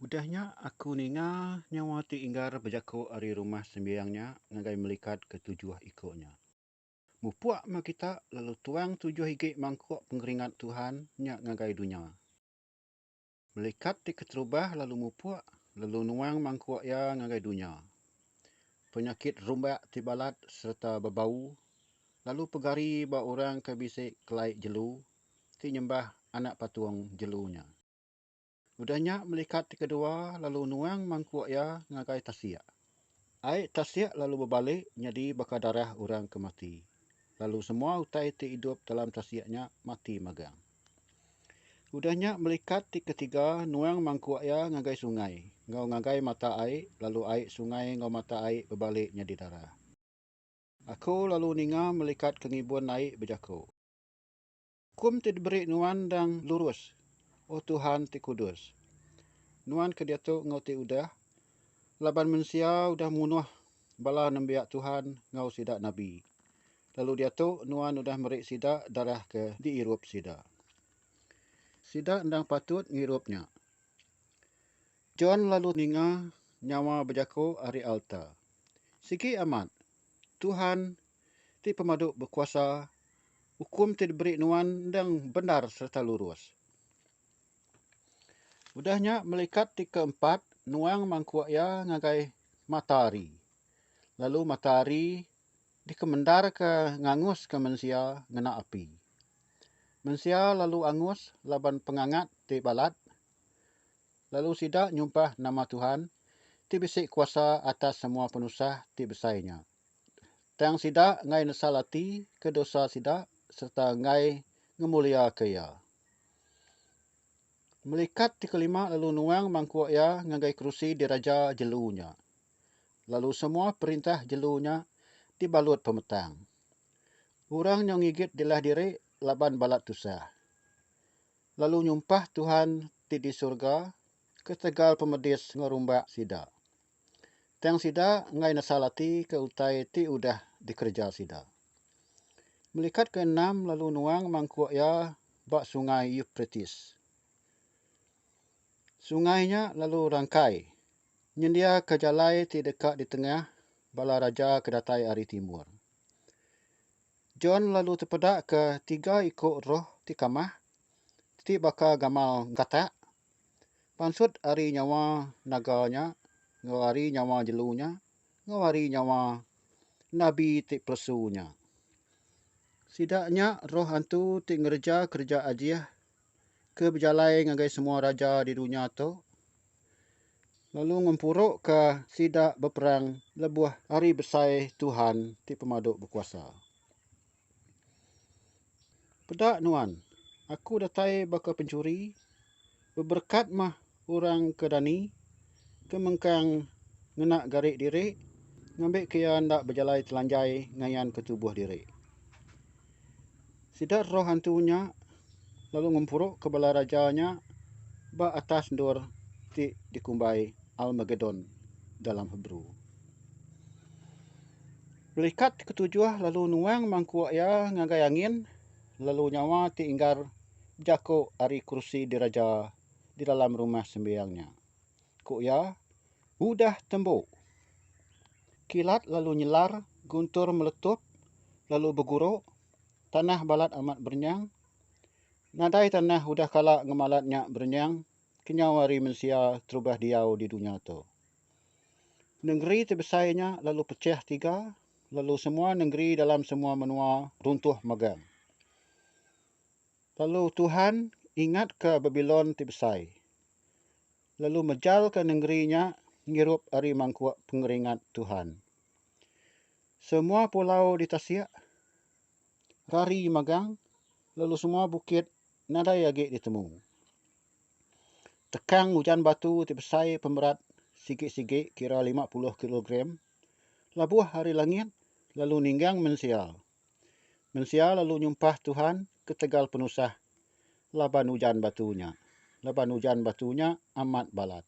Udah nya aku ninga nyawa ti inggar bejaku ari rumah sembiang nya ngagai melikat ke tujuh iku nya. Mupuk meh kita lalu tuang tujuh igi mangkuk pengeringat Tuhan nya ngagai dunya. Melikat ti keterubah lalu mupuk lalu nuang mangkuk iya ngagai dunya. Penyakit rumbak ti balat sereta bebau lalu pegari ba orang ke bisi kelai jelu ti nyembah anak patung jelu nya. Udah nya melikat ti kedua lalu nuang mangkuk iya ngagai tasik. Ai tasik lalu bebalik nyadi baka darah orang ke mati. Lalu semua utai ti idup dalam tasik nya mati magang. Udah nya melikat ti ketiga nuang mangkuk iya ngagai sungai enggau ngagai mata ai lalu ai sungai enggau mata ai bebalik nyadi darah. Aku lalu ninga melikat ke ngibun ai bejaku. Hukum ti diberi nuan endang lurus, O Tuhan ti kudus. Nuan ke diatu enggau ti udah, laban mensia udah munuh bala nembiak Tuhan enggau sida nabi, lalu diatu nuan udah meri sida darah ke diirup sida. Sida endang patut ngirup nya. John lalu ninga nyawa bejaku ari alta, Sigi amat, Tuhan ti Pemadu Bekuasa Ukum ti diberi nuan endang bendar sereta lurus. Udah nya melikat ti keempat nuang mangkuk iya ngagai mata hari lalu mata hari dikemendarka nganguska mensia ngena api. Mensia lalu angus laban pengangat ti balat lalu sida nyumpah nama Tuhan ti bisi kuasa atas semua penusah ti besai nya. tang sida enggai nesal ati ke dosa sida sereta enggai ngemuliaka Iya. Melikat ti kelima lalu nuang mangkuk Iya ngagai kerusi diraja jelu nya, lalu semua perintah jelu nya dibalut pemetang. Orang nya ngigit dilah diri laban balat tusah, lalu nyumpah Tuhan ti di surga ketegal pemedis ngerumbak sida. Tang sida enggai nesal ati ke utai ti udah dikereja sida. Melikat ke enam lalu nuang mangkuk iya ba Sungai Euprates. Sungai nya lalu rangkai, nyendiaka jalai ti deka ditengah bala raja ke datai ari timur. John lalu tepedaka tiga iku roh ti kamah ti baka gamal gatak Pansut ari nyawa naga nya enggau ari nyawa jelu nya enggau ari nyawa nabi ti pelesu nya. Sida nya roh antu ti ngereja kereja ajih ke bejalai ngagai semua raja di dunya tu lalu ngempuruka sida beperang lebuh hari besai Tuhan ti pemadu bekuasa. Peda nuan, aku datai baka pencuri, beberekat mah orang ke dani, ke mengkang ngena gari diri ngambika iya enda bejalai telanjai ngayanka tubuh diri. Sida roh hantu nya lalu ngempuruka bala raja nya ba atas endur ti dikumbai Al-Magedon dalam Hebrew. Pelikat ti ketujuh lalu nuang mangkuk iya ngagai angin, lalu nyawa ti inggar bejaku ari kerusi diraja di dalam Rumah Sembiang nya. Ku iya, Udah tembu! Kilat lalu nyelar, guntur meletup lalu beguru, tanah balat amat berenyang. Nadai tanah udah kala ngemalat nya berenyang kenyau ari mensia terubah diau di dunya tu. Nengeri ti besai nya lalu pechah tiga, lalu semua nengeri dalam semua menua runtuh megang. Lalu Tuhan ingatka Babilon ti besai, lalu mejalka nengeri nya ngirup ari mangkuk pengeringat Tuhan. Semua pulau ditasik, rari megang, lalu semua bukit nadai agi ditemu. Tekang ujan batu ti besai pemerat sigi-sigi kira lima puluh kilogram labuh ari langit lalu ninggang mensia. Mensia lalu nyumpah Tuhan ketegal penusah laban ujan batu nya, laban ujan batu nya amat balat.